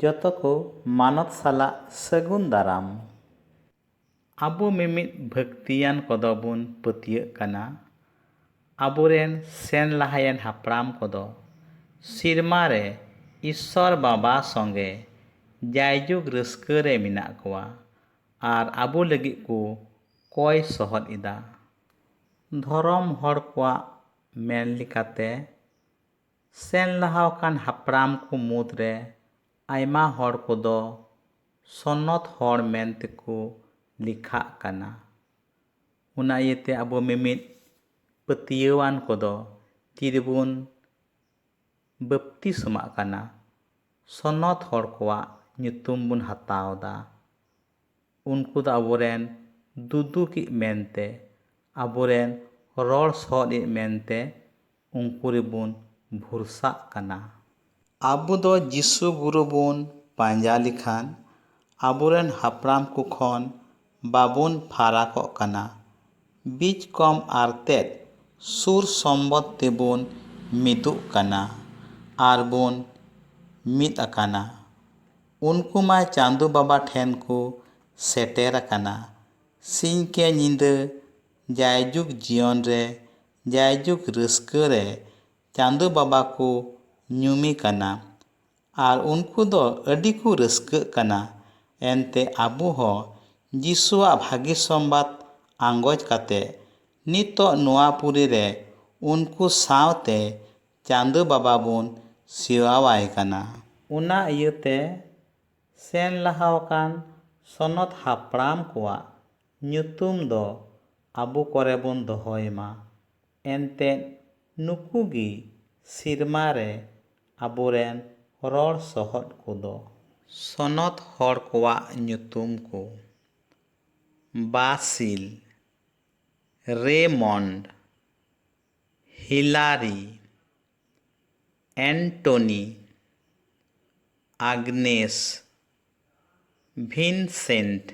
ᱡᱚᱛᱚ ᱠᱚ ᱢᱟᱱᱚᱛ ᱥᱟᱞᱟᱜ ᱥᱟᱹᱜᱩᱱ ᱫᱟᱨᱟᱢ᱾ ᱟᱵᱚ ᱢᱤᱢᱤᱫ ᱵᱷᱟᱹᱠᱛᱤᱭᱟᱱ ᱠᱚᱫᱚ ᱵᱚᱱ ᱯᱟᱹᱛᱭᱟᱹᱜ ᱠᱟᱱᱟ ᱟᱵᱚ ᱨᱮᱱ ᱥᱮᱱ ᱞᱟᱦᱟᱭᱮᱱ ᱦᱟᱯᱲᱟᱢ ᱠᱚᱫᱚ ᱥᱤᱨᱢᱟ ᱨᱮ ᱤᱥᱥᱚᱨ ᱵᱟᱵᱟ ᱥᱚᱸᱜᱮ ᱡᱟᱭᱡᱩᱜᱽ ᱨᱟᱹᱥᱠᱟᱹ ᱨᱮ ᱢᱮᱱᱟᱜ ᱠᱚᱣᱟ ᱟᱨ ᱟᱵᱚ ᱞᱟᱹᱜᱤᱫ ᱠᱚ ᱠᱚᱭ ᱥᱚᱦᱚᱫ ᱮᱫᱟ᱾ ᱫᱷᱚᱨᱚᱢ ᱦᱚᱲ ᱠᱚᱣᱟᱜ ᱢᱮᱱ ᱞᱮᱠᱟᱛᱮ᱾ ᱥᱮᱱ ᱞᱟᱦᱟ ᱟᱠᱟᱱ ᱦᱟᱯᱲᱟᱢ ᱠᱚ ᱢᱩᱫᱽ ᱨᱮ ᱟᱭᱢᱟ ᱦᱚᱲ ᱠᱚᱫᱚ ᱥᱚᱱᱚᱛ ᱦᱚᱲ ᱢᱮᱱ ᱛᱮᱠᱚ ᱞᱮᱠᱷᱟᱜ ᱠᱟᱱᱟ᱾ ᱚᱱᱟ ᱤᱭᱟᱹ ᱛᱮ ᱟᱵᱚ ᱢᱤᱢᱤᱫ ᱯᱟᱹᱛᱭᱟᱹᱣᱟᱱ ᱠᱚᱫᱚ ᱛᱤ ᱨᱮᱵᱚᱱ ᱵᱟᱹᱯᱛᱤᱥᱢᱟᱜ ᱠᱟᱱᱟ, ᱥᱚᱱᱚᱛ ᱦᱚᱲ ᱠᱚᱣᱟᱜ ᱧᱩᱛᱩᱢ ᱵᱚᱱ ᱦᱟᱛᱟᱣ ᱮᱫᱟ᱾ ᱩᱱᱠᱩ ᱫᱚ ᱟᱵᱚ ᱨᱮᱱ ᱫᱩᱫᱩᱠᱤᱡ ᱢᱮᱱᱛᱮ, ᱟᱵᱚ ᱨᱮᱱ ᱨᱚᱲ ᱥᱚᱦᱚᱫ ᱤᱡ ᱢᱮᱱᱛᱮ ᱩᱱᱠᱩ ᱨᱮᱵᱚᱱ ᱵᱷᱚᱨᱥᱟᱜ ᱠᱟᱱᱟ᱾ ᱟᱵᱚ ᱫᱚ ᱡᱤᱥᱩ ᱜᱩᱨᱩ ᱵᱚᱱ ᱯᱟᱸᱡᱟ ᱞᱮᱠᱷᱟᱱ ᱟᱵᱚᱨᱮᱱ ᱦᱟᱯᱲᱟᱢ ᱠᱚ ᱠᱷᱚᱱ ᱵᱟᱵᱚᱱ ᱯᱷᱟᱨᱟᱠᱚᱜ ᱠᱟᱱᱟ᱾ ᱵᱤᱡᱽ ᱠᱚᱢ ᱟᱨᱛᱮᱫ ᱥᱩᱨ ᱥᱚᱢᱵᱚᱫᱽ ᱛᱮᱵᱚᱱ ᱢᱤᱫᱚᱜ ᱠᱟᱱᱟ ᱟᱨ ᱵᱚᱱ ᱢᱤᱫ ᱟᱠᱟᱱᱟ᱾ ᱩᱱᱠᱩ ᱢᱟ ᱪᱟᱸᱫᱚ ᱵᱟᱵᱟ ᱴᱷᱮᱱ ᱠᱚ ᱥᱮᱴᱮᱨ ᱟᱠᱟᱱᱟ᱾ ᱥᱤᱧ ᱠᱮ ᱧᱤᱫᱟᱹ ᱡᱟᱭᱡᱩᱜᱽ ᱡᱤᱭᱚᱱ ᱨᱮ ᱡᱟᱭᱡᱩᱜᱽ ᱨᱟᱹᱥᱠᱟᱹ ᱨᱮ ᱪᱟᱸᱫᱚ ᱵᱟᱵᱟ ᱠᱚ ᱧᱩᱢᱮ ᱠᱟᱱᱟ ᱟᱨ ᱩᱱᱠᱩ ᱫᱚ ᱟᱹᱰᱤ ᱠᱚ ᱨᱟᱹᱥᱠᱟᱹᱜ ᱠᱟᱱᱟ᱾ ᱮᱱᱛᱮ ᱟᱵᱚ ᱦᱚᱸ ᱡᱤᱥᱩᱣᱟᱜ ᱵᱷᱟᱹᱜᱤ ᱥᱚᱢᱵᱟᱫᱽ ᱟᱸᱜᱚᱪ ᱠᱟᱛᱮ ᱱᱤᱛᱚᱜ ᱱᱚᱣᱟ ᱯᱩᱨᱤ ᱨᱮ ᱩᱱᱠᱩ ᱥᱟᱶ ᱛᱮ ᱪᱟᱸᱫᱚ ᱵᱟᱵᱟ ᱵᱚᱱ ᱥᱮᱣᱟᱣᱟᱭ ᱠᱟᱱᱟ᱾ ᱚᱱᱟ ᱤᱭᱟᱹ ᱛᱮ ᱥᱮᱱ ᱞᱟᱦᱟ ᱟᱠᱟᱱ ᱥᱚᱱᱚᱛ ᱦᱟᱯᱲᱟᱢ ᱠᱚᱣᱟᱜ ᱧᱩᱛᱩᱢ ᱫᱚ ᱟᱵᱚ ᱠᱚᱨᱮ ᱵᱚᱱ ᱫᱚᱦᱚᱭ ᱢᱟ᱾ ᱮᱱᱛᱮᱫ ᱱᱩᱠᱩ ᱜᱮ ᱥᱤᱨᱢᱟ ᱨᱮ ᱟᱵᱚ ᱨᱮᱱ ᱨᱚᱲ ᱥᱚᱦᱚᱫ ᱠᱚ ᱫᱚ᱾ ᱥᱚᱱᱚᱛ ᱦᱚᱲ ᱠᱚᱣᱟᱜ ᱧᱩᱛᱩᱢ ᱠᱚ, ᱵᱟᱥᱤᱞ, ᱨᱮᱭᱢᱚᱱᱰ, ᱦᱤᱞᱟᱨᱤ, ᱮᱱᱴᱚᱱᱤ, ᱟᱜᱽᱱᱮᱥ, ᱵᱷᱤᱱᱥᱮᱱᱴ᱾